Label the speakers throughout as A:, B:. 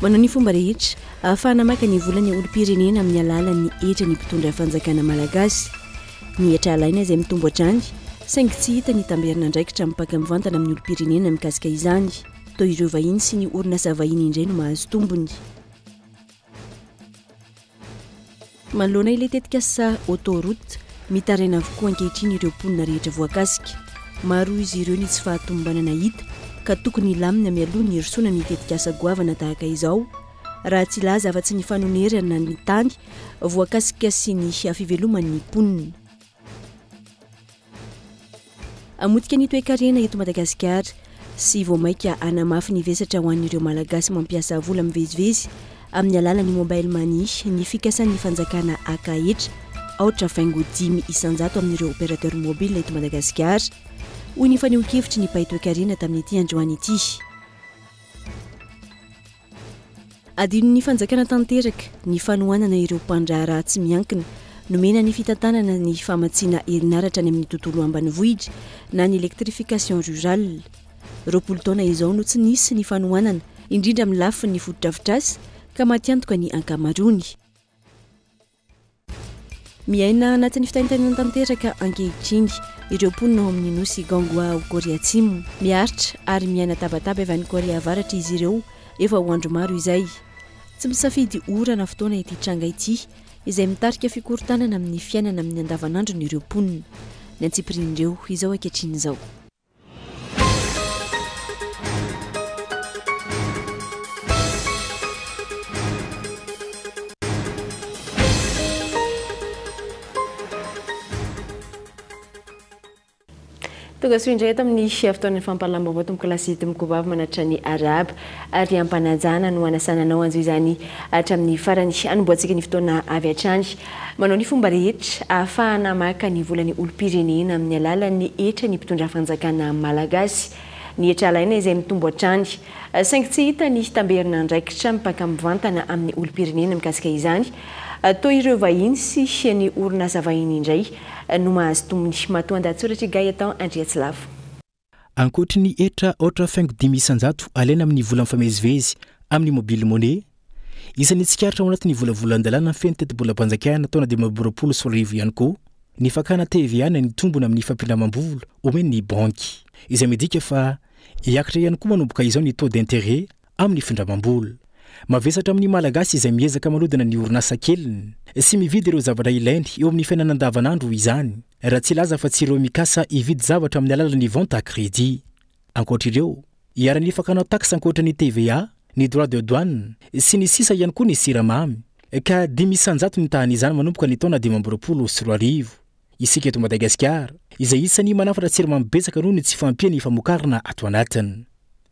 A: Manao ny fomba rehetra ahafahana maka ny vola ny olom-pirenena amin'ny alalan'ny hetra ny mpitondra fanjakana malagasy. Ny hetra alaina izay mitombo hatrany saingy tsy hita ny tamberin'andraikitra mipaka mivantana amin'ny olom-pirenena mikasika izany. Toa ireo vahiny sy ny orinasa vahiny indray no mahazo tombony. Manoloana ilay tetikasa Autoroute, mitaraina avokoa ankehitriny ireo mponina rehetra voakasika. Maro izy ireo ny tsy fahatomombanana hita ka tokony hilamina mialoha ny hirosoana ny tetikasa goavana tahaka izao, raha tsy hilaza afa-tsy ny fanonerana ny tany voakasika sy ny fiveloman'ny mponina. Hamotika ny toekarena eto Madagasikara sy vao mainka hanamafy ny vesatra ho an'ireo Malagasy mampiasa vola mivezivezy amin'ny alalan'ny Mobile Money ny fikasan'ny fanjakana haka hetra aotra faingo dimy isan-jato amin'ireo opérateur mobile eto Madagasikara, hoy ny fanehoan-kevitry ny mpahay toekarena tamin'ity androany ity. Adinon'ny fanjakana tanteraka ny fanohanana ireo mpandraharaha tsy miankina nomena ny fitantanana ny famatsiana herinaratra any amin'ny tontolo ambanivohitra na ny électrification rurale. Roapolo taona izao no tsy nisy ny fanohanana, indrindra amin'ny lafiny fotodrafitrasa, ka matiantoka ny ankamaroany. Miaina anatin'ny fitaintainana tanteraka ankehitriny ireo mponina ao amin'ny nosy Ganghwa ao Korea Atsimo. Miaritra ary miaina tabataba avy any Korea Avaratra izy ireo efa ho andro maro izay. Tsy misafidy ora na fotoana ity tranga ity, izay mitarika fikorontanana amin'ny fiainana amin'ny andavanandron'ireo mponina. Ny antsipirian'ireo izao ankehitriny izao. Tonga soa indray eto amin'ny fotoanan'ny fampahalalam-baovao tompoko lasy tompoko vavy manatitra ny arahaba ary ampanajana no hanasana anao hanjo izany hatramin'ny farany. Hanombohantsika ny fotoana avy hatrany. Manao ny fomba rehetra ahafahana maka ny volan'ny olom-pirenena amin'ny alalan'ny hetra ny mpitondra fanjakana malagasy. Ny hetra alaina izay mitombo hatrany. Saingy tsy hita ny hitamberina andraikitra mipaka mivantana amin'ny olom-pirenena mikasika izany. Toa ireo vahiny sy ny orinasa vahiny indray no mahazo tombony. Matoandahatsoratra i Gaëtan Andriatsilavo. Ankoatry
B: ny hetra aotra faingo dimy isan-jato alaina amin'ny vola mifamezivezy amin'ny mobile money, isan'ny tsikaritra ao anatin'ny volavolan-dalàna feno tetibolam-panjakana taona dimy amby roapolo sy roa arivo ihany koa ny fakana TVA na ny tombony amin'ny fampindramam-bola omen'ny banky, izay midika fa hiakatra ihany koa manomboka izao ny taux d'intérêt amin'ny findramam-bola. Mavesatra amin'ny Malagasy izay miezaka manodina ny orinasa keliny sy mividy ireo zavatra ilainy eo amin'ny fiainana andavanandro izany, raha tsy hilaza fa tsy ireo mikasa hividy zavatra amin'ny alalan'ny vente à crédit. Ankoatra ireo, iharan'ny fakana tax ankoatra ny TVA, ny droit de douane, sy ny sisa ihany koa ny siramamy, ka dimy isan-jato ny tahan'izany manomboka ny taona dimy amby roapolo sy roa arivo. isika eto Madagasikara, izay isan'ny manafatra siramamy betsaka noho ny tsy fahampian'ny famokarana ato anatiny.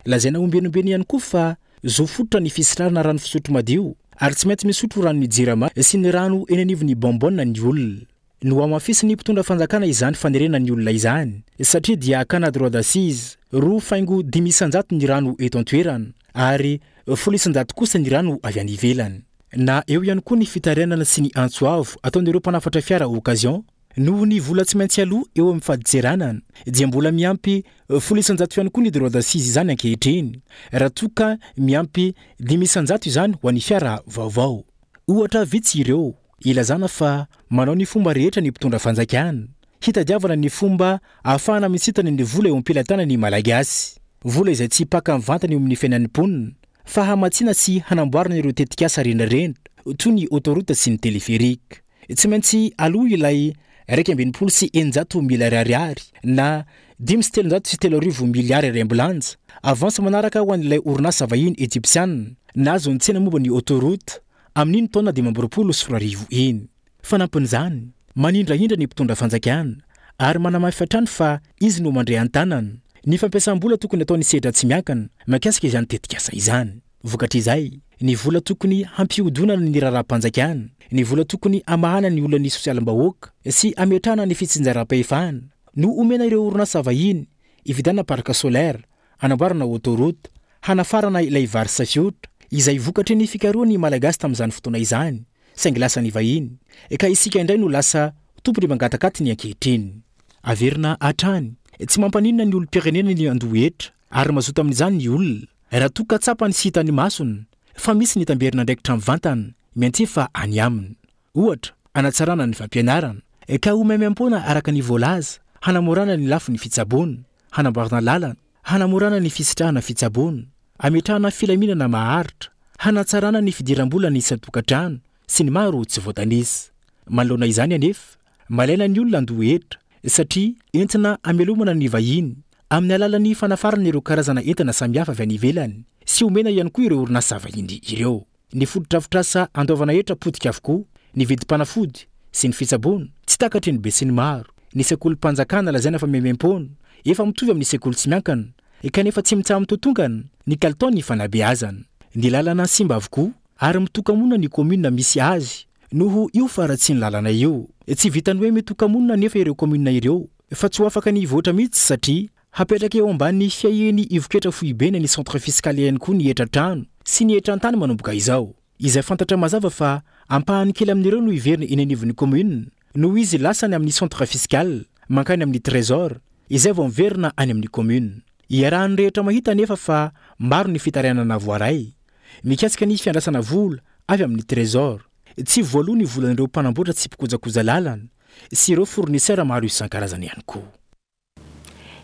B: Lazaina ombenombeno ihany koa fa zo fototra ny fisitrarana rano fisotro madio ary tsy maintsy misotro ranon'ny Jirama sy ny rano eny anivon'ny bonbonne ny olona. Nohamafisin'ny mpitondra fanjakana izany fanerena ny olona izany satria dia hakana droit d'assise roa faingo dimy isan-jato ny rano eto an-toerana ary folo isan-jato kosa ny rano avy any ivelany. Na eo ihany koa ny fitarainana sy ny antso avo ataon'ireo mpanafatra fiara occasion noho ny vola tsy maintsy aloa eo amin'ny fadintseranana dia mbola miampy folo isan-jato ihany koa ny droit d'assise izany ankehitriny raha toa ka miampy dimy isan-jato izany ho an'ny fiara vaovao. Ohatra vitsy ireo ilazana fa manao ny fomba rehetra ny mpitondra fanjakana hitadiavana ny fomba ahafahana misintana ny vola eo am-pelatanan'ny Malagasy, vola izay tsy paka mivantana eo amin'ny fiainan'ny mponina Fa hamatsiana sy hanamboarana ireo tetikasa renireny toy ny autoroute sy ny téléphérique. Tsy maintsy aloa ilay iraika amby enimpolo sy eninjato milary ariary na dimy sy telonjato sy telo arivo miliary ariambilanja. Avance manaraka ho an'ilay orinasa vahiny Ejipsiana nahazo ny tsena momba ny autoroute amin'iny taona dimy amby roapolo sy roa arivo iny. Fanampin'izany, manindrahindra ny mpitondra fanjakana ary manamafy hatrany fa izy no mandre an-tanana ny fampiasam-bola tokony ataon'ny sedra tsy miankina mikasika izany tetikasa izany. Vokatr'izay, ny vola tokony hampihodonana ny raharaham-panjakana, ny vola tokony hamahana ny olan'ny sosialim-bahoaka sy hametrahana ny fitsinjaram-pahefana no omena ireo orinasa vahiny hividianana parc solaire, hanamboarana autoroute, hanafarana ilay vary safiotra izay vokatry ny fikarohan'ny Malagasy tamin'izany fotoana izany. saingy lasa nivahiny, ka isika indray no lasa tompony mangatak'atiny ankehitriny. Averina hatrany, tsy mampaninona ny olom-pirenena ny handoa hetra, ary mazoto amin'izany ny olona, raha toa ka tsapany sy hitan'ny masony fa misy ny tamberin'andraikitra mivantana miantefa any aminy. Ohatra, hanatsarana ny fampianarana, ka ho maimaimpoana araka ny voalaza, hanamorana ny lafiny fitsaboana, hanamboarana lalana, hanamorana ny fisitrahana fitsaboana, hametrahana filaminana maharitra, hanatsarana ny fidiram-bola ny isan-tokantrano sy ny maro tsy voatanisa. Manoloana izany anefa, malaina ny olona handoa hetra satria entina hamelomana ny vahiny amin'ny alalan'ny fanafarana ireo karazana entana samihafa avy any ivelany sy omena ihany koa ireo orinasa vahiny ireo. Ny fotodrafitrasa andoavana hetra potika avokoa, ny vidim-panafody sy ny fitsaboana, tsy takatry ny besinimaro, ny sekolim-panjakana lazaina fa mihaimaimpona, efa mitovy amin'ny sekoly tsy miankana, kanefa tsy mitsaha-mitotongana ny kalitaon'ny fanabeazana. Ny lalana simba avokoa ary mitoka-monina ny kaominina misy azy noho io faharatsian'ny lalana io. Tsy vitan'ny hoe mitoka-monina anefa ireo kaominina ireo fa tsy ho afaka ny hivoatra mihitsy satria Hapetraka eo ambanin'ny fiahian'ny ivon-ketra foibeny ny centre fiscal ihany koa ny hetra trano sy ny hetran tany manomboka izao, izay fantatra mazava fa ampahany kely amin'ireo no hiverina eny anivon'ny commune noho izy lasany amin'ny centre fiscal mankany amin'ny trésor izay vao miverina any amin'ny commune. Iarahan'ny rehetra mahita anefa fa maro ny fitarainana voaray mikasika ny fiandrasana vola avy amin'ny trésor. Tsy voaloa ny volan'ireo mpanamboatra sy mpikojakoja lalana sy ireo fournisseurs maro isan-karazany ihany koa.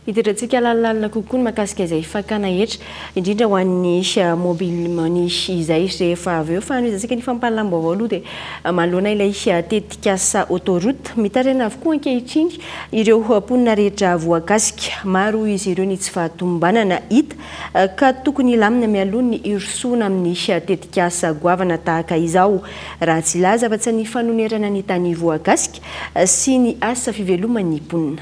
A: Hitondrantsika alalalalina kokoa ny mahakasika izay fakana hetra, indrindra ho an'ny mobile money izay rehefa avy eo. Fanomezantsika ny fampahalalam-baovao aloha dia manoloana ilay tetikasa autoroute, mitaraina avokoa ankehitriny ireo mponina rehetra voakasika. Maro izy ireo ny tsy fahatomombanana hita ka tokony hilamina mialoha ny hirosoana amin'ny tetikasa goavana tahaka izao raha tsy hilaza afa-tsy ny fanonerana ny tany voakasika sy ny asa fiveloman'ny mponina.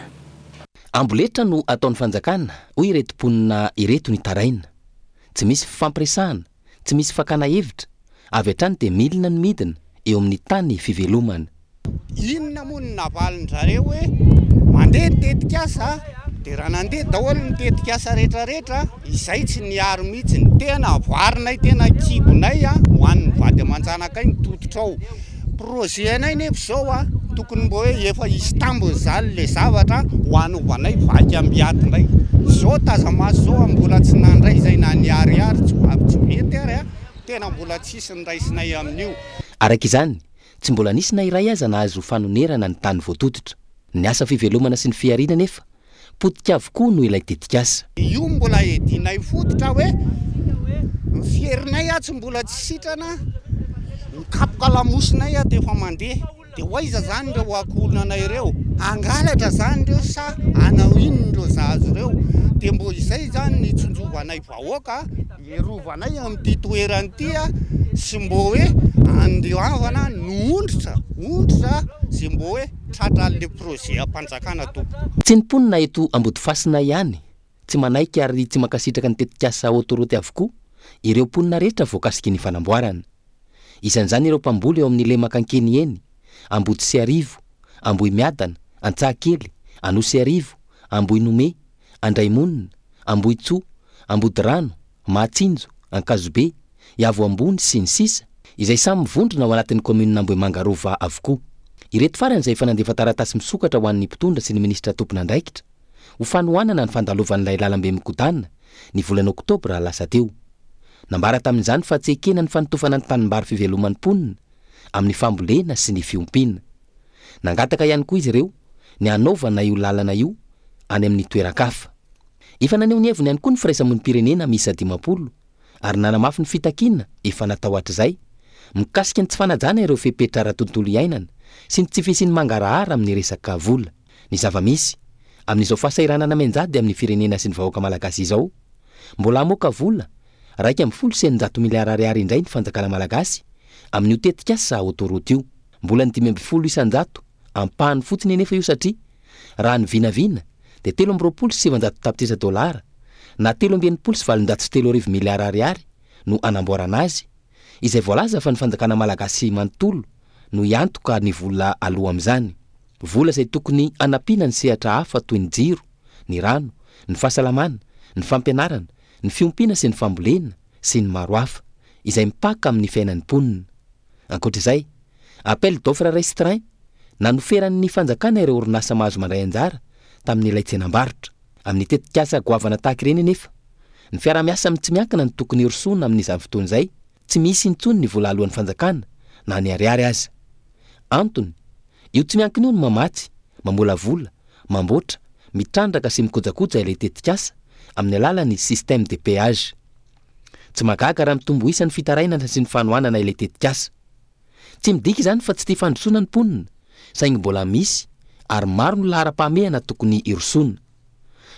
A: Amboletra
C: no ataon'ny fanjakana, hoy ireto mponina ireto nitaraina. Tsy misy fifampiresahana, tsy misy fakana hevitra, avy hatrany dia milina ny midina eo amin'ny tany fivelomana. Inona
D: moa no navalin-dRareo hoe mandeha ny tetikasa dia raha nandeha daholo ny tetikasa rehetra rehetra, Izay tsy niaro mihitsy ny tena avoarinay, tena kibonay a, ho an'ny vady aman-janakay ny tototra ao. Projet anay nefa izao a, tokony mba hoe efa hisy tambiny izany le zavatra ho anovanay vaky ambiaty indray. Izao taza-maso izao a, mbola tsy nandray izay na niharihary, tsy ho avy tsy mety ary a, tena mbola tsisy ny raisinay amin'io. Araka izany,
C: tsy mbola nisy na iray aza nahazo fanonerana ny tany voatototra. Ny asa fivelomana sy ny fihariana anefa Potika avokoa no ilay tetikasa. Io mbola
D: edinay fototra hoe ny fierinay atsy mbola tsy sitrana mikapoka lamosinay ato efa mandeha de ho aiza zany ireo akohonanay ireo hangalatra zany ireo sa hanao inona ireo zaza ireo de mbo izay zany ny hitsonjovanay vahoaka Erovanay amin'ity toerana ity a sy mbô hoe andoavana no ondritra ondritra ze mbô hoe tratra anle projet ampanjakana tompoko. Tsy ny mponina eto
C: Ambodifasina ihany tsy manaiky ary tsy mankasitraka ny tetikasa autoroute avokoa ireo mponina rehetra voakasiky ny fanamboarana. Isan'izany ireo mpamboly eo amin'ny lemaka Ankenieny, Ambodisiarivo, Ambohimiadana, Antsahakely, Anosiarivo, Ambohinome, Andraimonina, Ambohitsoa, Ambodirano, Mahatsinjo, Ankazobe, Iavo Ambony, sy ny sisa, izay samy mivondrona ao anatin'ny kaominina Ambohimanga Rova avokoa. Ireto farany izay efa nandefa taratasy misokatra ho an'ny mpitondra sy ny minisitra tompon'andraikitra ho fanohanana ny fandalovan'ilay lalambe migodàna ny volana oktobra lasa teo. Nambara tamin'izany fa tsy ekena ny fanotofana ny tanimbary fiveloman'ny mponina amin'ny fambolena sy ny fiompiana. Nangataka ihany koa izy ireo ny hanaovana io lalana io any amin'ny toeran-kafa. Efa naneho ny heviny ihany koa ny firaisamonim-pirenena miisa dimampolo ary nanamafy ny fitakiana efa natao hatrizay mikasika ny tsy fanajana ireo fepetra ara-tontolo iainana sy ny tsy fisian'ny mangarahara amin'ny resaka vola. Ny zava-misy, amin'izao fahasahiranana mianjady amin'ny firenena sy ny vahoaka malagasy izao, mbola hamoaka vola iraika ambin'ny folo sy eninjato miliara ariary indray ny fanjakana malagasy amin'io tetikasa autoroute io. Mbola ny dimy amby folo isan-jato, ampahany fotsiny anefa io satria, raha ny vinavina, dia telo amby roapolo sy sivinjato tapitrisa dolara, na telo amby enimpolo sy valonjato sy telo arivo miliara ariary, no anamboarana azy, izay voalaza fa ny fanjakana malagasy manontolo no hiantoka ny vola aloa amin'izany. Vola izay tokony hanampiana ny sehatra hafa toy ny jiro, ny rano, ny fahasalamana, ny fampianarana, ny fiompiana sy ny fambolena sy ny maro hafa izay mipaka amin'ny fiainan'ny mponina. Ankoatra izay, appel d'offre restreint na noferan'ny fanjakana ireo orinasa mahazo mandray anjara tamin'ilay tsenam-barotra. Amin'ny tetikasa goavana tahaka ireny anefa, ny fiaraha-miasa amin'ny tsy miankina no tokony hirosoana amin'izany fotoana izay Tsy misy intsony ny vola aloan'ny fanjakana na ny ariary aza. Antony, io tsy miankina io no mamatsy, mamolavola, mamboatra, mitrandraka sy mikojakoja ilay tetikasa amin'ny alalan'ny système de péage. Tsy mahagaga raha mitombo isa ny fitarainana sy ny fanohanana ilay tetikasa. Tsy midika izany fa tsy tia fandrosoana ny mponina saingy mbola misy ary maro ny laharam-pahamehana tokony hirosoana.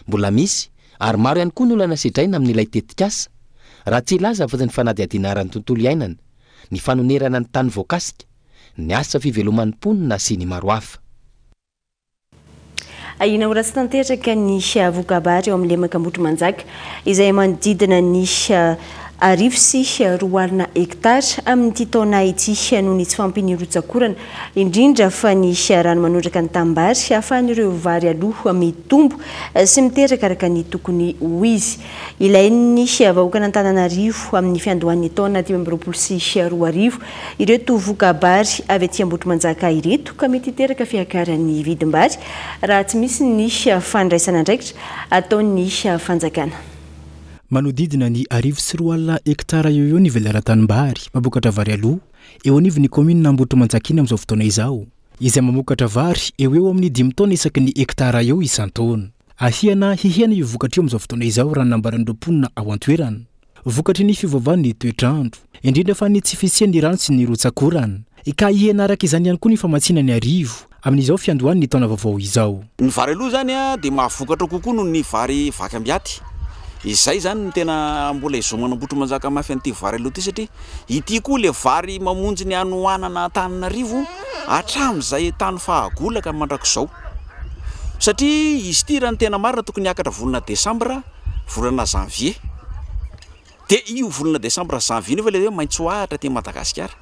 C: Mbola misy, ary maro ihany koa ny olana sedraina amin'ilay tetikasa, raha tsy hilaza afa-tsy ny fanadihadiana ara-tontolo iainana, ny fanonerana ny tany voakasika, ny asa fiveloman'ny mponina sy ny maro hafa.
A: Ahiana ho ratsy tanteraka ny voka-bary ao amin'ny lemaka Ambohitrimanjaka, izay manodidina ny Arivo sy roa alina hektara amin'ity taona ity noho ny tsy fahampian'ny rotsak'orana, indrindra fa ny rano manondraka ny tanimbary ahafahan'ireo vary aloa mitombo sy miteraka araka ny tokony ho izy. Ilain'ny vahoakan'Antananarivo amin'ny fiandohan'ny taona dimy amby roapolo sy roa arivo ireto voka-bary avy aty Ambohitrimanjaka ireto ka mety hiteraka fiakaran'ny vidim-bary raha tsy misy ny fandraisan'andraikitra ataon'ny fanjakana. Manodidina
B: ny arivo sy roa alina hektara eo ho eo ny velaran-tanimbary mpamokatra vary aloa eo anivon'ny kaominina Ambohitrimanjakina amin'izao fotoana izao, izay mamokatra vary eo ho eo amin'ny dimy taona isaky ny hektara eo isan-taona. Ahiana hihena io vokatra io amin'izao fotoana izao raha ny nambaran'ireo mponina ao an-toerana. Vokatry ny fiovaovan'ny toetr'andro, indrindra fa ny tsy fisian'ny rano sy ny rotsak'orana, ka hihena araka izany ihany koa ny famatsiana ny arivo amin'izao fiandohan'ny taona vaovao izao. Ny vary aloha izany
E: dia mahavokatra kokoa noho ny vary vaky am-biaty. Izay izany no tena mbola ezaho manamboatra manjaka mafy an'ity vary aloha ity satria ity koa ilay vary mamonjy ny hanohanana Antananarivo hatramin'izay tany fahagola ka mandrakizao. Satria izy ity raha ny tena marina tokony hiakatra volana desambra, volana janvier. de io volana desambra janvier io ve ilay hoe maitso ahitra aty Madagasikara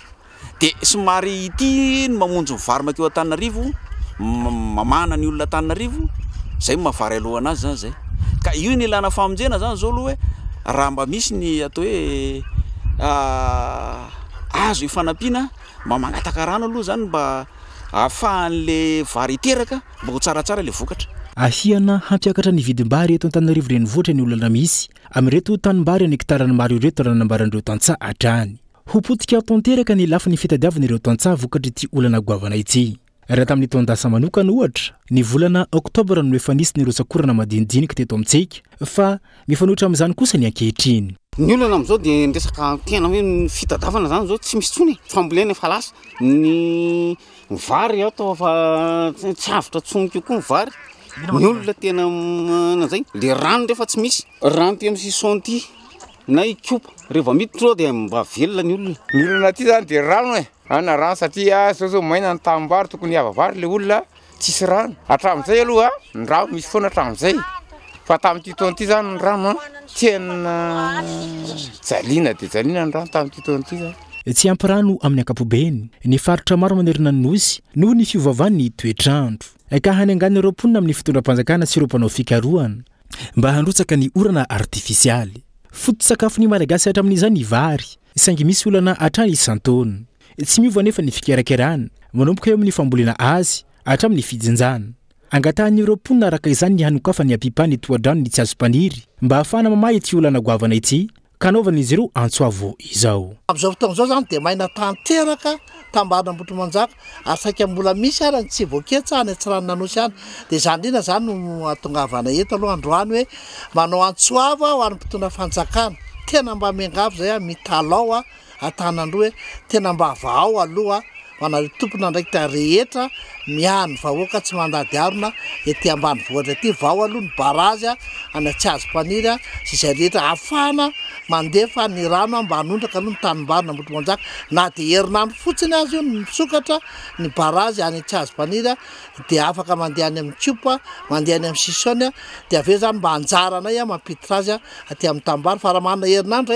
E: de somary ity ny mamonjy ny vary makeo Antananarivo mamahana ny olona Antananarivo zay no maha vary aloana azy zany zay ka io no ilana famonjena zany zao aloha hoe raha mba misy ny atao hoe azo hifanampiana mba mangataka rano aloha zany mba ahafahan'le vary hiteraka mba ho tsaratsara ilay vokatra. Ahiana
B: hampiakatra ny vidim-bary eto Antananarivo Renivohitra ny olana misy Amin'ireto tanimbary an'hekitarany maro ireto raha nambaran'ireo tantsaha hatrany. Ho potika tanteraka ny lafiny fitadiavana ireo tantsaha vokatr'ity olana goavana ity. Raha tamin'ny taon-dasa manokana, ohatra, ny volana oktobra no efa nisy ny rotsak'orana madinidinika teto amintsika, fa mifanohitra amin'izany kosa ny ankehitriny. Ny olana amin'izao dia
D: ny resaka tena hoe ny fitadiavana izany izao tsy misy intsony e, fambolena efa lasa, ny. Ny vary aho tao fa tsy avotra tsony kokoa ny vary. Ny olona tena nanzay. Le rano rehefa tsy misy. Rano ty amin'ny sison ty na i kopa. Rehefa miditra ao dia mba velona ny olona. Ny olana aty zany dia
F: rano e. Hanina rano satria zao zao maina ny tanimbary tokony hiava vary le olona tsisy rano. Hatramin'izay aloha ny rano misy foana hatramin'izay. Fa tamin'ity taona ity zany ny rano an, tena jaliana dia jaliana ny rano tamin'ity taona ity zany. Tsy ampy rano
B: amin'ny ankapobeny ny faritra maro manerana ny Nosy noho ny fiovaovan'ny toetr'andro, ka hanengan' ireo mponina amin'ny fitondram-panjakana sy ireo mpanao fikarohana mba handrotsaka ny orana artifisialy. Foto-tsakafon'ny Malagasy hatramin'izay ny vary, saingy misy olana hatrany isan-taona. Tsy miova anefa ny fikerakerana, manomboka eo amin'ny fambolena azy hatramin'ny fijinjana. Angatahin'ireo mponina araka izany ny hanokafany ampipany tohadrano ny Tsiazompaniry mba ahafahana mamaha ity olana goavana ity ka anaovan'izy ireo antso avo izao. Amin'izao fotoana izao izany
G: dia maina tanteraka tambarin' Ambohitrimanjaka ary saika mbola misy ary ny tsy voaketsa any Antsiranon'Anosy any dia izany indrindra izany no hahatongavana eto aloha androany hoe manao antso avo aho any mpitondra fanjakana tena mba miangavy izay aho mitalao aho Antananarivo hoe tena mba vahao aloha ho anareo tompon'andraikitra rehetra miahy ny vahoaka tsy mandady harona ety ambanivohitra ety vao aloha ny barazy any Atsiazo Paniry sy izay rehetra afahana mandefa ny rano mba hanondraka aloha ny tanimbary Nambotomanjaka na dia herinandro fotsiny azy io ny misokatra ny barazy any Atsiazo Paniry dia afaka mandeha any amin'ny tiopa mandeha any amin'ny sisony dia avy eo izany mba anjaranay mampiditra azy aty amin'ny tanimbary fa raha manana herinandro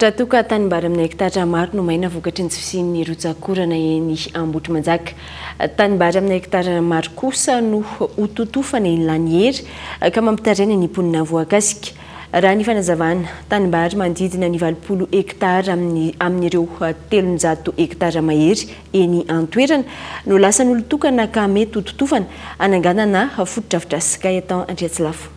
B: Raha
A: toa ka tanimbary amin'ny hekitatra maro no maina vokatry ny tsy fisian'ny rotsak'orana eny Ambohitrimanjaka. Tanimbary amin'ny hekitatra maro kosa no ho totofana eny Lanihery ka mampitaraina ny mponina voakasika. Raha ny fanazavana, tanimbary manodidina ny valopolo hekitara amin'ireo telonjato hekitara mahery eny an-toerana no lasan'olon-tokana ka mety ho totofana hananganana fotodrafitrasa. Gaëtan Andriatsilafo.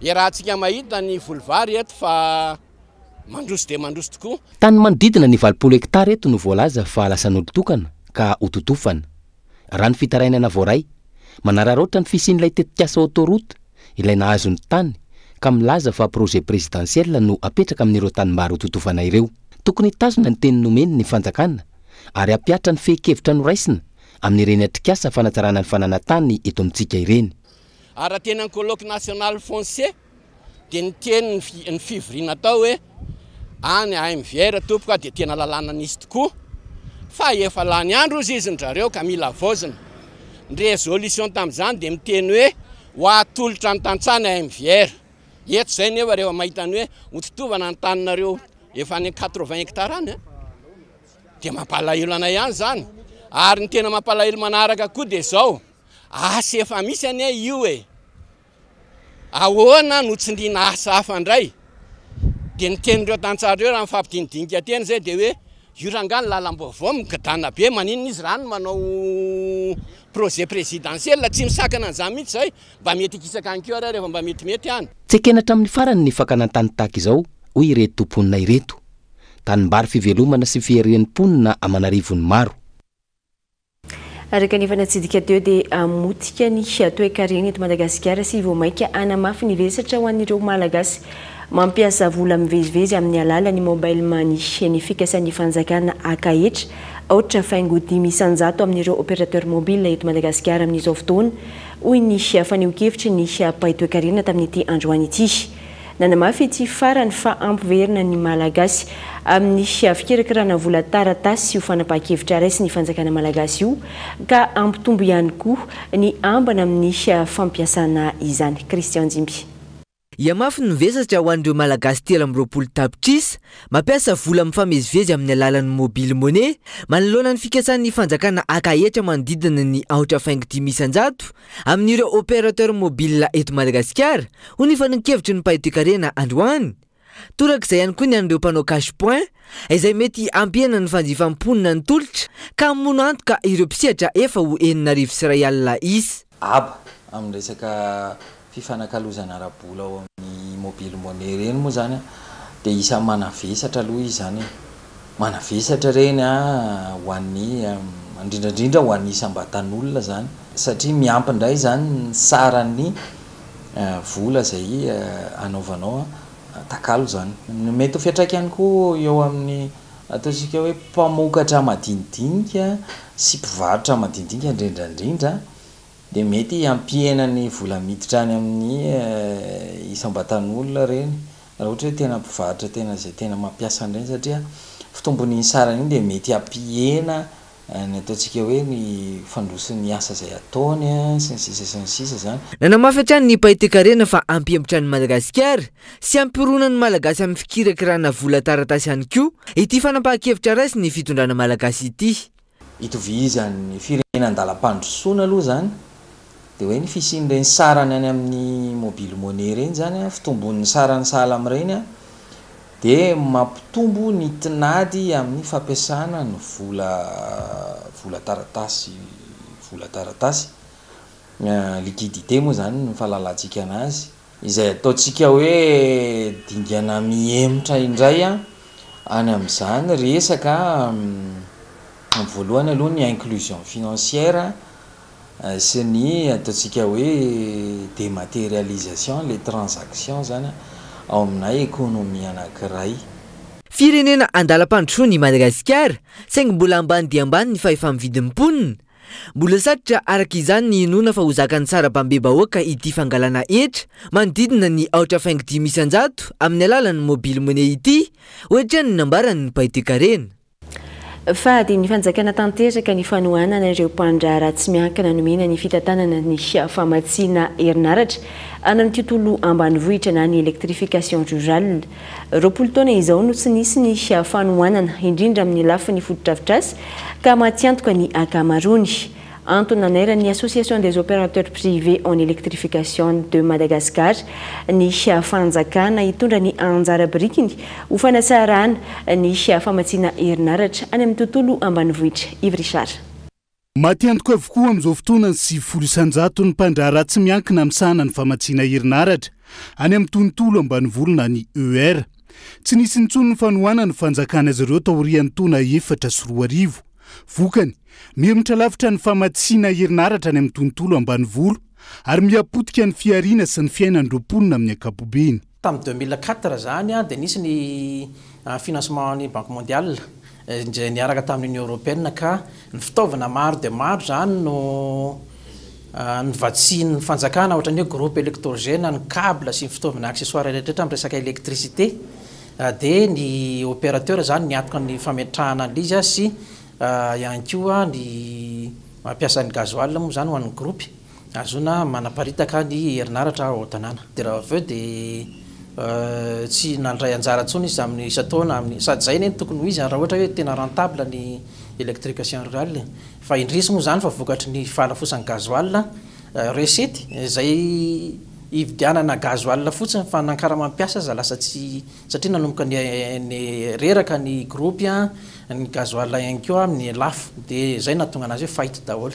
H: Iarahantsika mahita ny voly vary eto fa mandroso dia mandroso tokoa. Tany manodidina ny
C: valopolo hektara eto no voalaza fa lasan'olon-tokana ka hototofana. Raha ny fitarainana voaray, manararaotra ny fisian'ilay tetikasa autoroute ilay nahazo ny tany ka milaza fa projet présidentiel no apetraka amin'ireo tanimbary hototofana ireo. Tokony hitazona ny teny nomeny ny fanjakana ary hampihatra ny fehin-kevitra noraisina amin'ireny atrikasa fanatsarana ny fananantany eto amintsika ireny. ary raha teny amin'ny
H: colloque national foncier dia ny teny ny fi- ny fivoriana atao hoe any AMVR tompoko a, dia tena lalàna nisy tokoa fa efa lany andro hozy izy ny drareo ka mila havaozina. Ny résolution tamin'izany dia miteny hoe ho atolotra ny tantsaha ny AMVR. Eto izay nefa rehefa mahita ny hoe hototovana ny taninareo efa any amin'ny 80 hectares any a, dia mampalahelo anay ihany izany. Ary ny tena mampalahelo manaraka koa dia izao, Asa efa misy anie io e! Ahoana no tsindriana asa hafa indray? Dia ny tenin'ireo tantsaha ireo raha ny fampidinidinika teny izay dia hoe io rangahy ny lalam-baovao migadana be, maninona izy raha ny manao projet présidentiel? Tsy misakana an'izany mihitsy izay, mba mety hikisaka any koa ary aho rehefa mba metimety any. Tsy ekena hatramin'ny farany
C: ny fakana an-tany tahaka izao, hoy ireto mponina ireto. Tanimbary fivelomana sy fiharian'ny mponina aman'arivony maro.
A: Ary kanefa natsidika teo dia hamotika ny toekarena eto Madagasikara sy vao mainka hanamafy ny vesatra ho an'ireo Malagasy mampiasa vola mivezivezy amin'ny alalan'ny mobile money ny fikasan'ny fanjakana haka hetra aotra faingo dimy isan-jato amin'ireo opérateur mobile eto Madagasikara amin'izao fotoana, hoy ny fanehoan-kevitry ny mpahay toekarena tamin'ity androany ity. Nanamafy ity farany fa hampiverina ny Malagasy amin'ny fikirakirana vola taratasy io fanapahan-kevitra raisin'ny fanjakana malagasy io ka hampitombo ihany koa ny ambana amin'ny fampiasana izany. Christian Jimby. Hihamafy ny
I: vesatra ho an'ireo Malagasy telo amby roapolo tapitrisa mampiasa vola mifamezivezy amin'ny alalan'ny mobile money manoloana ny fikasan'ny fanjakana haka hetra manodidina ny aotra faingo dimy isan-jato amin'ireo opérateur mobile eto Madagasikara, hoy ny fanehoan-kevitry ny mpahay toekarena androany. Torak'izay ihany koa ny an'ireo mpanao cash point, izay mety hampihena ny fanjifan'ny mponina ny tolotra ka hamono antoka ireo mpisehatra efa ho enina arivo sy iray alina isa. Aba, amin'ny
J: resaka fifanakalozana ara-bola ao amin'ny mobile money ireny moa izany dia isan'ny manavesatra aloha izy izany e! Manavesatra ireny ho an'ny, indrindra indrindra ho an'ny isam-batan'olona izany, satria miampy indray izany ny saran'ny vola izay anaovanao takalo izany. Ny mety ho fiantraikany koa eo amin'ny, ataontsika hoe, mpamokatra madinidinika sy mpivarotra madinidinika indrindra indrindra dia mety hampihena ny vola miditra any amin'ny isam-batan'olona ireny Raha ohatra hoe tena mpivarotra tena izay tena mampiasa an'ireny satria fitombon'iny sarany iny dia mety hampihena ny ataontsika hoe ny fandrosoan'ny asa izay ataony sy ny sisa sy ny sisa izany. Nanamafy hatrany ny mpahay
I: toekarena fa hampihemotra an'i Madagasikara sy hampirona ny Malagasy amin'ny fikirakirana vola taratasy ihany koa ity fanapahan-kevitra raisin'ny fitondrana Malagasy ity. Itovizan'ny
J: firenena an-dalam-pandrosoana aloha izany dia hoe ny fisian'ireny sarany any amin'ny mobile money ireny izany, fitombon'ny sarany sahala amin'ireny dia mampitombo ny tinady amin'ny fampiasana ny vola vola taratasy, vola taratasy, liquidité moa izany ny fahalalantsika an'azy. Izay ataontsika hoe dingana mihemotra indray any amin'izany resaka, amin'ny voalohany aloha ny inclusion financière sy ny ataontsika hoe dématérialisation, ilay transaction izany ao aminà économie anankiray. Firenena
I: andalam-pandrosoana i Madagasikara, saingy mbola ambany dia ambany ny fahefa-mividin'ny mponina, Mbola satrotra araka izany ny inoana fa ho zakan'ny sarabambe-bahoaka ity fangalana hetra manodidina ny aotra faingo dimy isan-jato amin'ny alalan'ny mobile money ity, hoatrany ny nambaran'ny mpay toekarena. Fa
A: adin'ny fanjakana tanteraka ny fanohanana ireo mpandraharaha tsy miankina nomena ny fitantanana ny famatsiana herinaratra any amin'ny tontolo ambanivohitra na ny électrification rurale. Roapolo taona izao no tsy nisy ny fanohanana, indrindra amin'ny lafiny fotodrafitrasa, ka matiantoka ny ankamaroany. Antony nanairan'ny Association des Opérateurs Privés en Électrification de Madagascar ny fanjakana hitondra ny anjara birikiny ho fanatsarana ny famatsiana herinaratra any amin'ny tontolo ambanivohitra. Yves Richard. Maty antoka
K: avokoa amin'izao fotoana ny sivifolo isan-jaton'ny mpandraharaha tsy miankina misahana ny famatsiana herinaratra any amin'ny tontolo ambanivolo na ny EUR. Tsy nisy intsony ny fanohanana nofanjakan' azy ireo taorian'ny taona efatra sy roa arivo. Vokany, mihemotra lavitra ny famatsiana herinaratra any amin'ny tontolo ambanivolo ary miha-potika ny fihariana sy ny fiainan'ireo mponina amin'ny ankapobeny. Tamin'ny deux mille quatre
L: izany dia nisy ny financement an'ny Banque Mondiale izay niaraka tamin'ny Union Européenne ka ny fitaovana maro dia maro izany no novatsian'ny fanjakana ohatran'ny hoe groupe électrogène, ny cable sy ny fitaovana accessoire rehetrarehetra amin'ny resaka électricité dia ny opérateur izany niantoka ny fametrahana an'ilay izy sy ihany koa ny mampiasa ny gasoil moa izany ho an'ny groupe. ary zona manaparitaka ny herinaratra ao an-tanàna. Dia raha avy eo dia tsy nandray anjara intsony izy amin'ny isan-taona amin'ny, sady izay anie no tokony ho izy raha ohatra hoe tena rentable ny électrication rurale e! Fa indrisy moa izany fa vokatry ny fahalafosan'ny gasoil, recette, izay hividianana gasoil fotsiny fa na karama mpiasa aza lasa tsy, satria nanomboka ny reraka ny gropy, ny gasoil ihany koa ny lafo, dia izay no nahatonga an'azy hoe faillite daholo.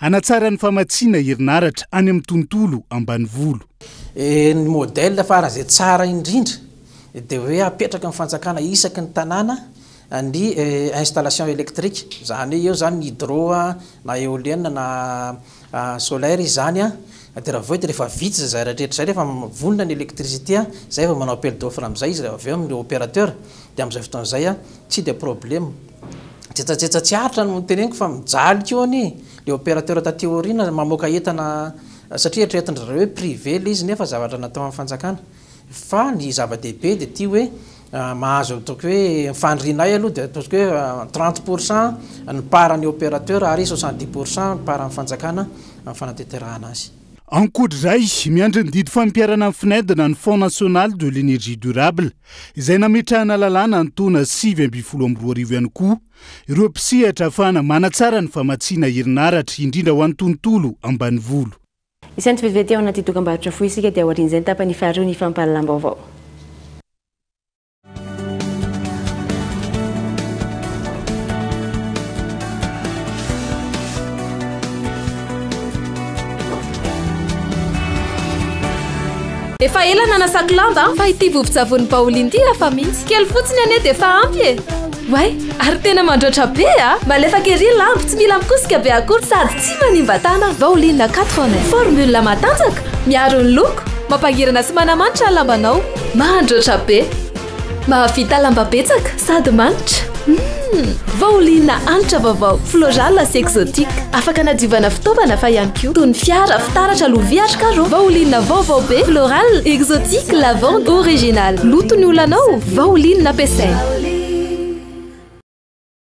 K: Hanatsara ny famatsiana herinaratra any amin'ny tontolo ambanivolo. Ny
L: modèle farany izay tsara indrindra dia hoe hapetraka amin'ny fanjakana isaky ny tanàna ny installation électrique. Izany hoe eo izany ny hydro na éolienne na solaire izany dia raha vao eo dia rehefa vitsy izay rehetra izay, rehefa vonona ny électricité izay vao manao appel d'offre amin'izay izy avy eo amin'ny opérateur dia amin'izay fotoana izay Tsy dia problème. Jetsajetsa tsy aritra no teneniko fa mijaly koa anie le opérateur taty aoriana mamoaka entana satria eritreretin-dry zareo hoe privé ilay izy nefa zavatra natao an'ny fanjakana. Fa ny zava-dehibe dia ity hoe mahazo ataoko hoe ny faniriana ahy aloha dia ataoko hoe trente pour cent ny part-n'ny opérateur ary soixante dix pour cent ny part-n'ny fanjakana amin'ny fanateterahana azy. Ankoatra izay,
K: miandry ny didy fampiharana ny FNED na ny Fonds National de l'Energie Durable, izay nametrahana lalàna ny taona sivy ambin'ny folo amby roa arivo ihany koa, ireo mpisehatra hahafahana manatsara ny famatsiana herinaratra, indrindra ho an'ny tontolo ambanivolo. Isan'ny tsy
A: vetivety ao anaty dokambarotra fohy isika dia aorian'izay ny tapany faharoa ny fampahalalam-baovao.
M: Efa ela nanasako lamba fa ity vovo-tsavony baolina ity hafa mihitsy. Kely fotsiny anie dia efa ampy e. Way, ary tena mandroatra be a! Malefaka ery lamba, tsy mila mikosika be akory sady tsy manimba tana. Baolina 4 en 1, formule matanjaka, miaro ny loko, mampangirana sy manamanitra ny lambanao. Mahandroatra be, mahavita lamba betsaka sady manitra. Hum! Vao liana hanitra vaovao, florale sy exotique. Afaka anadiovana fitaovana fa ihany koa toy ny fiara, fitaratra, lovia ary carreaux. Vao liana vaovao be, florale, exotique, lavande, original. Loto ny olanao, vao liana ampiasaina.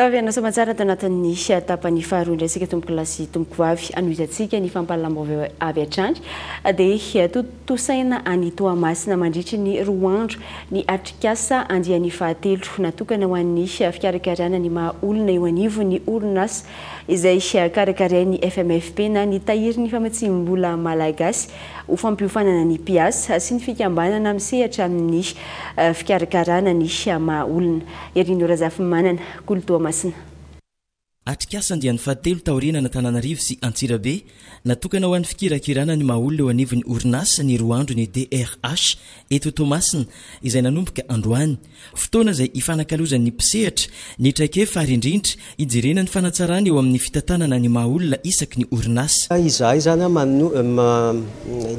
A: Taorian'ny lasa aman-tsara tao anatin'ny tapany faharoa indray isika tompokolahy sy tompokovavy hanohizantsika ny fampahalalam-baovao avy hatrany dia tontosaina any Toamasina mandritry ny roa andro ny atrikasa andiany fahatelo natokana ho an'ny fikarakarana ny maha olona eo anivon'ny orinasa izay karakarain'ny FMFP na ny Tahirin'ny Famatsiam-bola Malagasy ho fampiofanana ny mpiasa sy ny fikambanana misehatra amin'ny fikarakarana ny maha olona. Herino Razafimanana, kolo Toamasina.
N: Atrikasa andiany fahatelo taorian'Antananarivo sy Antsirabe natokana ho an'ny fikirakirana ny maha-olona eo anivon'ny orinasa ny roa andro ny DRH eto Toamasina izay nanomboka androany. Fotoana izay hifanakalozan'ny mpisehatra ny traikefa ary indrindra Hijerena ny fanatsarana eo amin'ny fitantanana ny maha olona isaky ny orinasa. Izahay izany an,
O: inona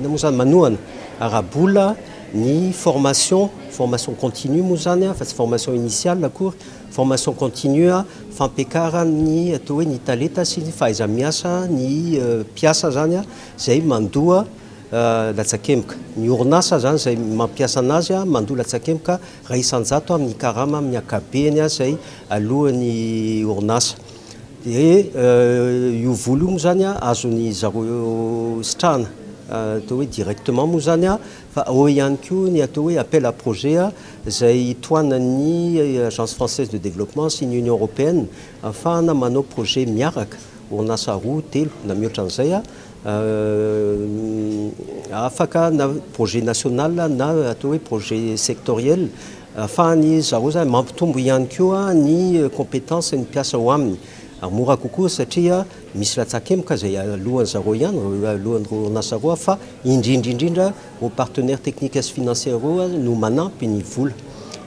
O: moa izany, manohana ara-bola ny formation, formation continue moa izany an, fa tsy formation initiale akory, formation continue fampekaran'ny atao hoe ny talenta sy ny fahaiza-miasa ny mpiasa izany an, izay mandoa latsakemboka. Ny orinasa izany izay mampiasa an'azy an, mandoa latsakemboka. Iray isan-jato amin'ny karama amin'ny ankabehany izay aloan'ny orinasa. Dia io vola io moa izany azon'ny zareo sitrahana atao hoe directement moa izany fa ao ihany koa ny atao hoe appel à projet izay tohanan'ny Agence française de développement sy ny Union européenne ahafahana manao projet miaraka, orinasa roa, telo na mihoatra an'izay. afaka na projet national na atao hoe projet sectoriel afahan'ny zareo zany mampitombo ihany koa ny competence ny mpiasa ao aminy ary mora kokoa satria misy latsakemboka zay alohan'ny zareo ihany alohan'ireo orinasa roa fa indrindra indrindra ireo partenaires techniques sy financiers ireo no manampy ny vola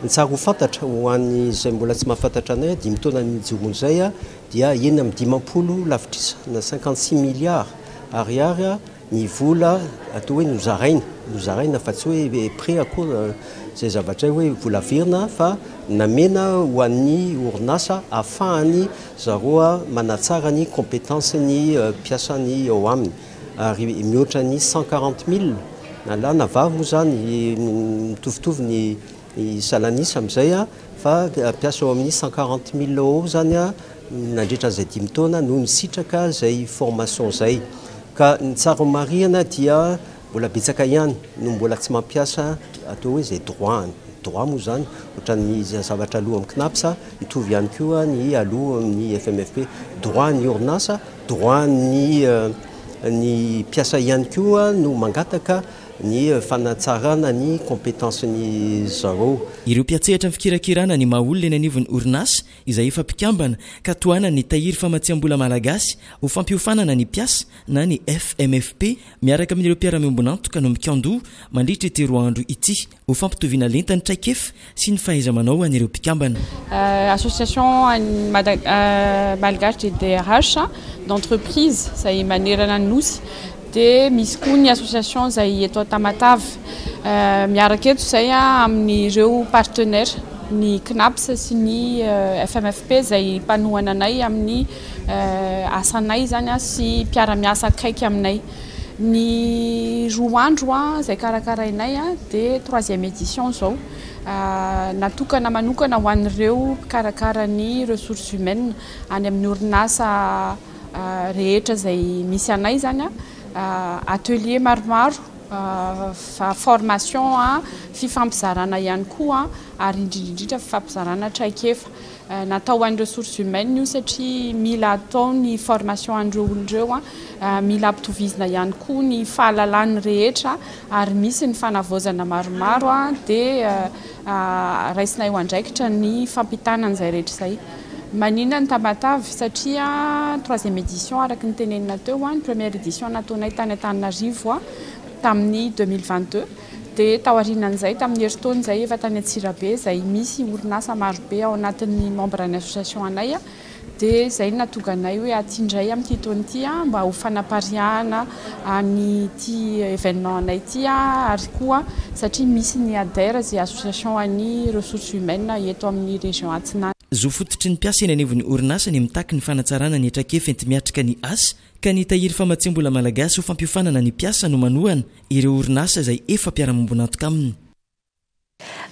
O: ny tsara ho fantatra ho an'izay mbola tsy mahafantatra anay dimy taona ny nijoroan'izay dia enina amby dimampolo lavitrisa na cinquante six milliards ariary ny vola atao hoe nozaraina, nozaraina fa tsy hoe prêt akory izay zavatra hoe vola averina fa namena ho an'ny orinasa ahafahany zaroa manatsara ny compétence ny mpiasany ao aminy ary mihoatra ny cent quarante mille na lahy na vavy moa izany mitovitovy ny I Salanis amin'izay fa mpiasa ao amin'ny cent quarante mille ao ao izany nandritra an'izay dimy taona no nisitraka izay formation izay. Ka ny tsara ho marihana dia mbola betsaka ihany no mbola tsy mampiasa atao hoe izay droit-ny. Droit moa izany ohatran'ny zavatra aloa amin'ny CNAPS, mitovy ihany koa ny aloa amin'ny FMFP. Droit-n'ny orinasa, droit-n'ny mpiasa ihany koa no mangataka. ny fanatsarana ny compétence ny zareo. Ireo mpiatsehatra ny
N: fikirakirana ny maha olona eny anivon'ny orinasa izay efa mpikambana ka tohanany ny tahiry famatsiambola malagasy ho fampiofanana ny mpiasa na ny FMFP miaraka amin'ireo mpiara-miombon'antoka no mikandoa mandritra ity roa andro ity. Ho fampitoviana lenta ny traikefa sy ny fahaiza-manao ho an'ireo mpikambana. Association
P: malgache des DRH, d'entreprise, izay manerana ny Nosy. Dia misy koa ny association izay eto Tamatave. Miaraka eto izay amin'ireo partenaires, ny CNAPS sy ny FMFP izay mpanohana anay amin'ny asanay izany sy mpiara-miasa akaiky aminay. Ny roa andro izay karakarainay dia troisième édition izao. Natokana manokana ho an'ireo mpikarakara ny ressources humaines any amin'ny orinasa rehetra izay misy anay izany. Atelier maromaro, formation, fifampizarana ihany koa ary indrindra indrindra fifampizarana traikefa. Natao ho an'ny ressources humaines io satria mila atao ny formation an'ireo olona ireo, mila ampitovizina ihany koa ny fahalalan'ny rehetra ary misy ny fanavaozana maromaro dia raisina eo andraikitra ny fampitana an'izay rehetra izay. Maninona ny Tamatave? Satria troisième édition araka ny tenenina teo, ny première édition nataonay tany Antananarivo tamin'ny deux mille vingt deux. Dia taorianan'izay, tamin'ny herintaona izay, efa tany Antsirabe, izay misy orinasa marobe ao anatin'ny membre ny association anay, dia izay no nahatonga anay hoe aty indray amin'ity taona ity mba ho fanapariahana an'ity événement anay ity ary koa satria misy ny ADER izay association an'ny ressources humaines eto amin'ny région Atsinanana. Zo fototry ny mpiasa
N: eny anivon'ny orinasa ny mitaky ny fanatsarana ny traikefa enti-miatrika ny asa ka ny tahiry famatsiam-bola malagasy ho fampiofanana ny mpiasa no manohana ireo orinasa izay efa mpiara-miombon'antoka aminy.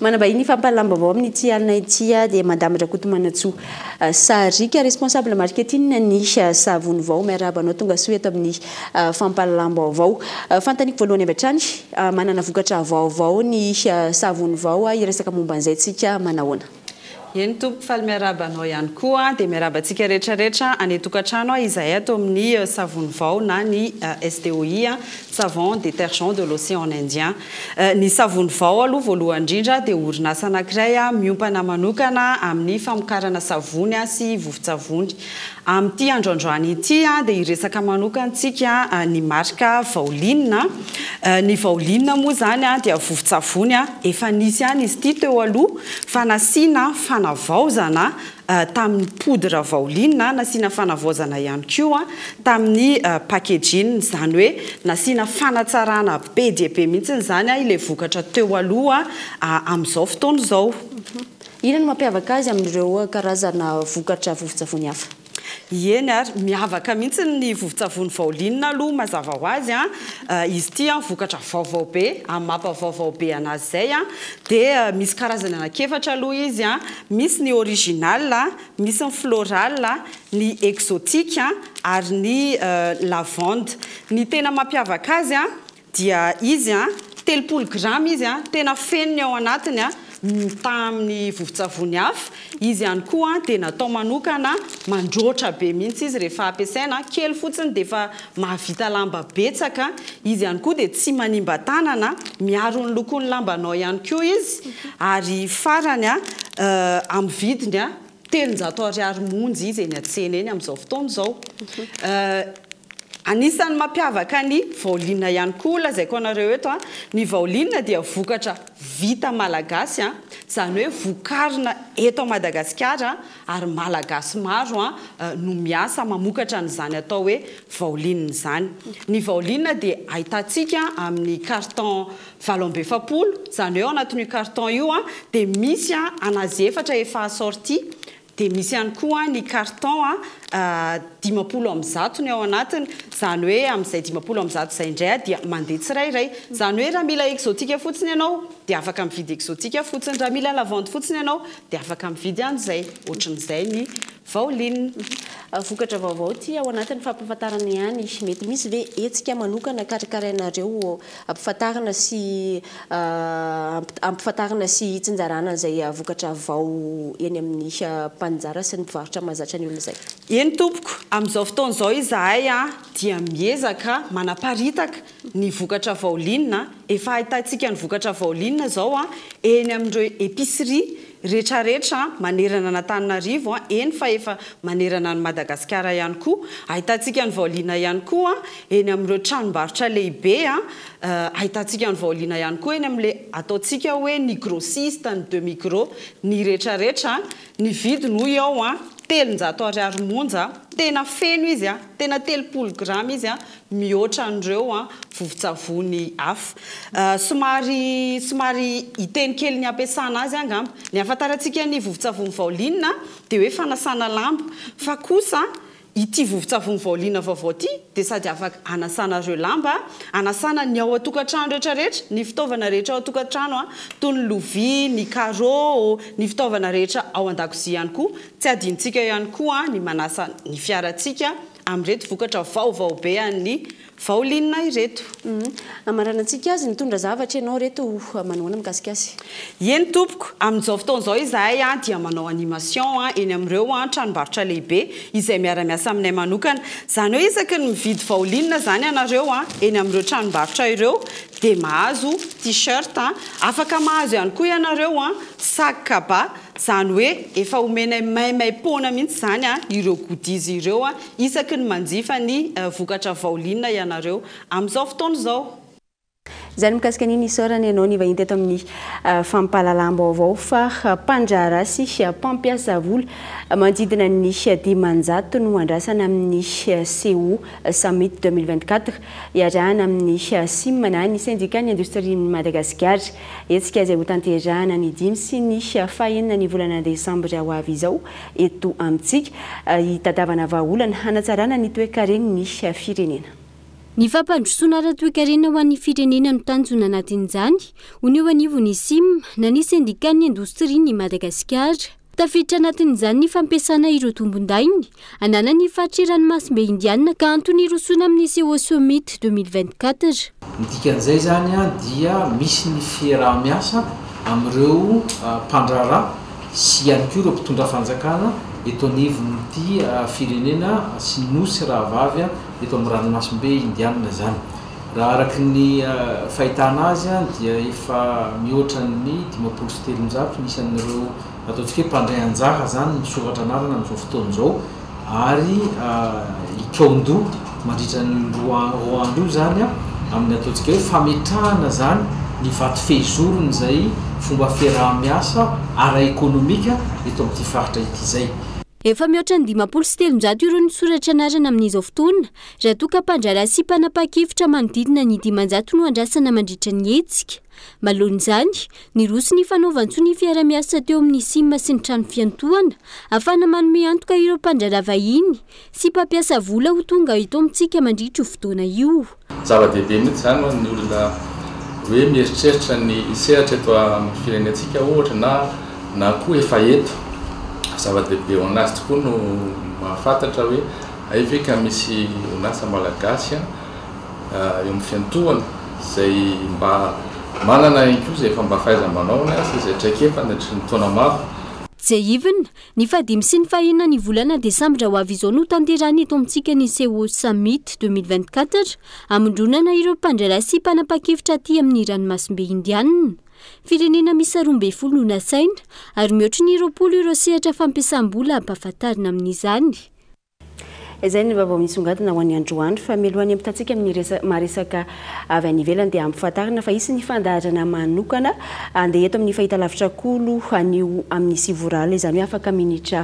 A: Manambahiny ny fampahalalam-baovao amin'ity alina ity dia Madame Rakotomanantsoa Sariaka, responsable marketing ny Savony Vao. Miarahaba anao, tonga soa eto amin'ny fampahalalam-baovao. Fanontaniako voalohany avy hatrany, manana vokatra vaovao ny Savony Vao, hiresaka momba an'izay tsika manahoana? Eny tompoko
Q: faly miarahaba anao ihany koa dia miarahaba antsika rehetra rehetra any tokantrano izahay ato amin'ny savony vao na ny SDOI savon detergent de l'océan indien ny savony vao aloha voalohany indrindra dia orinasa anankiray miompana manokana amin'ny famokarana savony sy vovon-tsavony Amin'ity andro androany ity dia hiresaka manokantsika ny marika Vaolinina. Ny Vaolinina moa izany dia vovon-tsavony efa nisy ihany izy ity teo aloha fa nasiana fanavaozana tamin'ny poudre Vaolinina, nasiana fanavaozana ihany koa tamin'ny packaging, izany hoe nasiana fanatsarana be dia be mihitsy izany ilay vokatra teo aloha amin'izao fotoana izao. Inona no
A: mampiavaka azy amin'ireo karazana vokatra vovon-tsavony hafa? Ieny ary,
Q: miavaka mihitsy ny vovon-tsavony Vaolinina aloha mazava ho azy an! izy ity an vokatra vaovao be, amin'ny maha mpavaovao be anazy izay an, dia misy karazany anankiefatra aloha izy an! misy ny original, misy ny floral, ny exotique ary ny lavande. Ny tena mampiavaka azy an, dia izy an, telopolo grama izy an, tena feno ny ao anatiny an, mitaha amin'ny vovon-tsavony hafa, izy ihany koa an dia natao manokana mandroatra be mihitsy izy rehefa ampiasaina an, kely fotsiny dia efa mahavita lamba betsaka, izy ihany koa dia tsy manimba tanana an, miaro ny lokon'ny lambanao ihany koa izy, ary farany an, amin'ny vidiny an, telonjato ariary monja izy eny an-tsena eny amin'izao fotoana izao. Anisan'ny mampiavaka ny vaolinina ihany koa, lazaiko anareo eto, ny vaolinina dia vokatra vita malagasy, izany hoe vokarina eto Madagasikara ary malagasy maro no miasa mamokatra an'izany atao hoe vaolinina izany. Ny vaolinina dia ahitantsika amin'ny carton Valo amby efapolo, izany hoe ao anatin'io carton io dia misy an'azy efatra efa assortie, dia misy ihany koa ny carton dimampolo amby zato ny ao anatiny, izany hoe amin'izay dimampolo amby zato izay indray dia mandeha tsirairay. Izany hoe raha mila exotique fotsiny ianao dia afaka mividy exotique fotsiny, raha mila lavande fotsiny ianao dia afaka mividy an'izay, ohatran'izay ny Vao Lin. Vokatra
A: vaovao ity ao anatin'ny fampahafantarana ihany. Mety misy ve hetsika manokana karakarainareo hampifantarina sy hampifantarina sy hitsinjarana an'izay vokatra vao eny amin'ny mpaninjara sy ny mpivarotra mahazatra ny olona izay? Eny tompoko,
Q: amin'izao fotoana izao izahay dia miezaka manaparitaka ny vokatra vaolinina, efa ahitantsika ny vokatra vaolinina izao eny amin'ireo epicerie retraretra manerana an'Antananarivo, eny fa efa manerana an'i Madagasikara ihany koa, ahitantsika ny vaolinina ihany koa eny amin'ireo tranombarotra lehibe, ahitantsika ny vaolinina ihany koa eny amin'ilay ataontsika hoe ny grossiste, ny demi gros, ny retraretra, ny vidiny hoy aho telonjato ariary monja, tena feno izy, tena telopolo grama izy mihoatra an'ireo vovon-tsavony hafa. Somary somary hiteny kely ny hampiasana azy angamba. Ny ahafantarantsika ny vovon-tsavony Vaolina dia hoe fanasana lamba. Fa kosa ity vovon-tsavony Vaolina vaovao ity dia sady afaka hanasana ireo lamba, hanasana ny ao an-tokantrano rehetra rehetra, ny fitaovana rehetra ao an-tokantrano toy ny lovia, ny carreaux, ny fitaovana rehetra ao an-dakozia ihany koa. Tsy hadinontsika ihany koa ny manasa ny fiarantsika amin'ireto vokatra vaovao be an'ny Vaolinina ireto. Hamaranantsika
A: azy, mitondra zavatra ianao ireto ho manahoana mikasika azy? Eny tompoko,
Q: amin'izao fotoana izao izahay dia manao animation eny amin'ireo tranombarotra lehibe izay miara-miasa aminay manokana. Izany hoe isaky ny mividy Vaolinina izany ianareo eny amin'ireo tranombarotra ireo dia mahazo T-shirt, afaka mahazo ihany koa ianareo sac cabas, Izany hoe efa omenay maimaim-poana mihitsy izany ireo goodies ireo isaky ny manjifa ny vokatra Vaolinina ianareo amin'izao fotoana izao. Izany
A: mikasika an'iny isaorana ianao nivahiny teto amin'ny fampahalalam-baovao fa mpandraharaha sy mpampiasa vola manodidina ny dimanjato no andrasana amin'ny Seoul Summit deux mille vingt-quatre iarahana amin'ny Sim na ny Sendikan'ny Indostrian'i Madagasikara. Hetsika izay hotanterahina ny dimy sy ny fahenina ny volana desambra ho avy izao eto amintsika, hitadiavana vahaolana hanatsarana ny toekaren'ny firenena. Ny
R: fampandrosoana ara-toekarena ho an'ny firenena no tanjona anatin'izany, hono eo anivon'ny Sim na ny Sendikan'ny Indostrian'i Madagasikara. Tafiditra anatin'izany ny fampiasana ireo tombondahiny ananan'ny faritry ranomasimbe Indiana ka antony hirosoana amin'ny Seoul Summit 2024. Ny dikan'izay
J: izany dia misy ny fiaraha-miasa amin'ireo mpandraharaha sy ihany koa ireo mpitondra fanjakana eto anivon'ity firenena sy nosy rahavavy eto amin'ny ranomasimbe Indiana izany. Raha araka ny fahitana azy dia efa mihoatra ny dimampolo sy telonjato ny isan'ireo ataontsika hoe mpandray anjara izany misoratra anarana amin'izao fotoana izao ary hikaon-doha mandritra ny roa roa andro io izany amin'ny ataontsika hoe fametrahana izany ny vato fehizorony izay fomba fiaraha-miasa ara-ekonomika eto amin'ity faritra ity izay. Efa mihoatra ny
R: dimampolo sy telonjato ireo nisoratra anarana amin'izao fotoana Raha toa ka mpandraharaha sy mpanapahan-kevitra manodidina ny dimanjato no andrasana mandritra ny hetsika. Malohan'izany, niroso ny fanaovan-tsoa ny fiarahamiasa teo amin'ny sim sy ny trano fiantohana, afahana manome antoka ireo mpandraharaha vahiny sy mpampiasa vola ho tonga eto amintsika mandritra io fotoana io. Zava-dehibe mihitsy
S: izany ho an'ny olona hoe mieritreritra ny hisehatra eto amin'ny firenentsika ohatra na na koa efa eto. Zava-dehibe ho an'azy tokoa no mahafantatra hoe. Hay ve ka misy orinasa malagasy eo amin'ny fiantohana izay mba manana ihany koa izay efa mba fahaiza-manaony aza izay traikefa nandritry ny taona maro. JIVN,
R: Ny fahadimy sy ny fahena ny volana desambra ho avy izao no hotanterahina eto amintsika ny Seoul Summit deux mille vingt quatre, hamondronana ireo mpandray lasy sy mpanapa-kevitra aty amin'ny ranomasimbe Indianina. Firenena miisa roa ambin'ny folo no nasaina, ary mihoatra ny roapolo ireo sehatra fampiasam-bola ampahafantarina amin'izany.
A: Izay ny vaovao misongadina ho an'ny androany fa mialohan'ny hampitantsika amin'ny resa maharesaka avy any ivelany dia ampifantarina fa hisy ny fandaharana manokana andeha eto amin'ny fahitalavitra koa lo anio amin'ny sivy ora alina izany hoe afaka minitra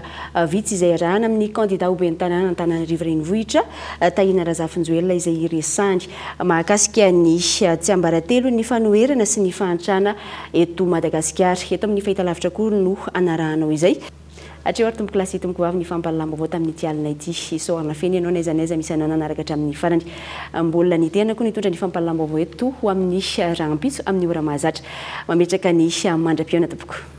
A: vitsy izay arahana amin'ny kandida ho ben'ny tanàna Antananarivo Renivohitra Tahina Razafinjoelina izay hiresany mahakasika ny tsiambaratelo ny fanoherana sy ny fahantrana eto Madagasikara eto amin'ny fahitalavitra koa no anarahanao izay Hatreo ary tompokolahy sy tompokoavy ny fampahalalam-baovao tamin'ity alina ity. Isaorana feno ianao n'aiza n'aiza misy ananana araka hatramin'ny farany. Mbola ny tenako no hitondra ny fampahalalam-baovao eto ho amin'ny rahampitso amin'ny ora mahazatra. Mametraka ny mandra-pihaona tompoko.